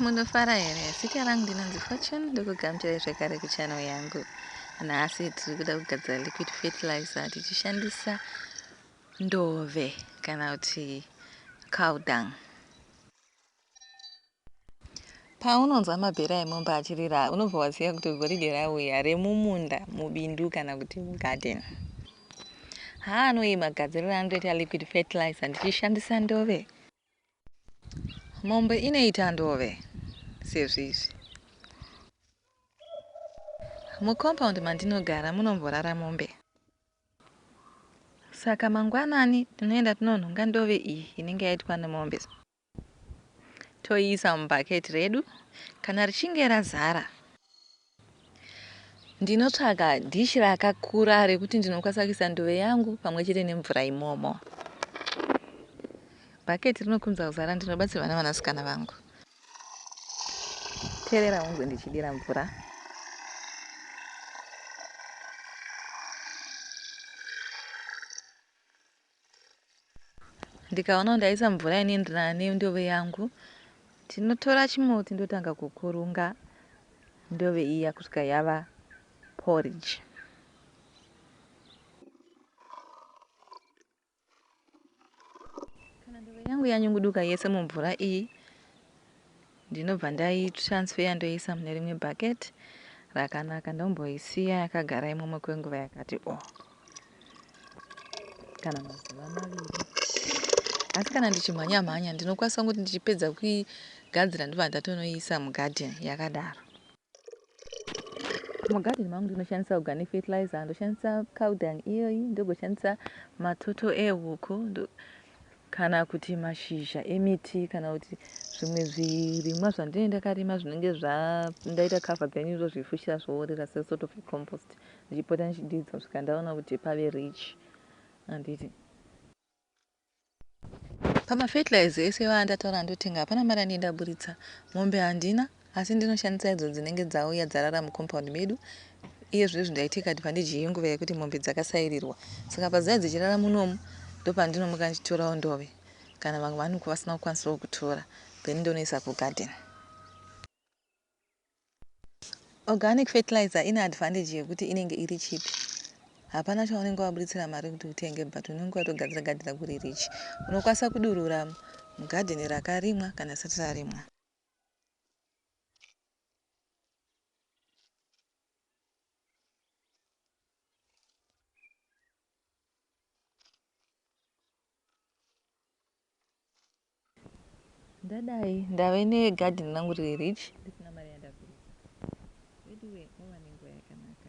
Munofara here? Zita rangu ndinonzi Fortune ndokugamuchirai zvekare kuchannel yangu. Nhasi tiri kuda kugadzira liquid fertilizer tichishandisa ndove kana kuti cow dung. Paunonzwa mabhera emombe achirira unobva waziva kuti goridhe rauya remumunda, mubindu kana kuti mugarden. Haa anoyi magadziriro anotoita liquid fertilizer ndichishandisa ndove. Mombe inoita ndove sezvizvi. Mucompound mandinogara munomborara mombe. Saka mangwanani tinoenda tinonhonga ndove iyi inenge yaitwa nemombe toiisa mubucket redu kana richinge razara. Ndinotsvaga dish rakakura rekuti ndinokwanisa kuisa nduve yangu pamwe chete nemvura imomo. Bhaketi rinokunza kuzara ndinobatsirwa navanasikana vangu. Terera ungwe ndichidira mvura. Ndikaona kuti ndaisa mvura inoenderana nendove yangu ndinotora chimuti ndotanga kukurunga ndove iya kusvika yava porridge. Kana ndove yangu yanyunguduka yese mumvura iyi Ndinobva ndai transfer ndoiisa mune rimwe bucket rakanaka ndomboisiya yakagara imomo kwenguva yakati o kana mazuva maviri asi kana ndichimhanya mhanya ndinokwanisa kuti ndichipedza kuigadzira ndobva ndatonoiisa mugarden yakadaro mugarden mangu ndinoshandisa organic fertilizer ndoshandisa cowdung iyoyi ndogoshandisa matoto ehuku kana kuti mashizha emiti kana kuti zvimwe zvirimwa zvandinenge ndakarima zvinenge zvandaita cover then ndozvifushira zvoorera sesort of compost ndichipota ndichidiidza kusvika ndaona kuti pave rich anditi Pamafertilizer ese iwayo andataura andotenga hapana mari yandaburitsa. Mombe handina asi ndinoshandisa idzo dzinenge dzauya dzarara mucompound medu. Iye zvino izvi ndaita ikadvantage yenguva yekuti mombe dzakasairirwa saka pazuva dzichirara munomu ndopandinomuka ndichitorawo ndove kana vamwe vanenge vasina kukwanisawo kutora then ndonoisa kugarden. Organic fertilizer ine advantage yekuti inenge iri cheap hapana chaunenge wabuditsira mari kuti utenge but unenge watogadzira garden rako riri rich. Unokwanisa kudurura mugarden rakarimwa kana risati rarimwa. ndadai ndave negarden rangu riri rich ndisina mari yandabvisa veduwe mava nenguva yakanaka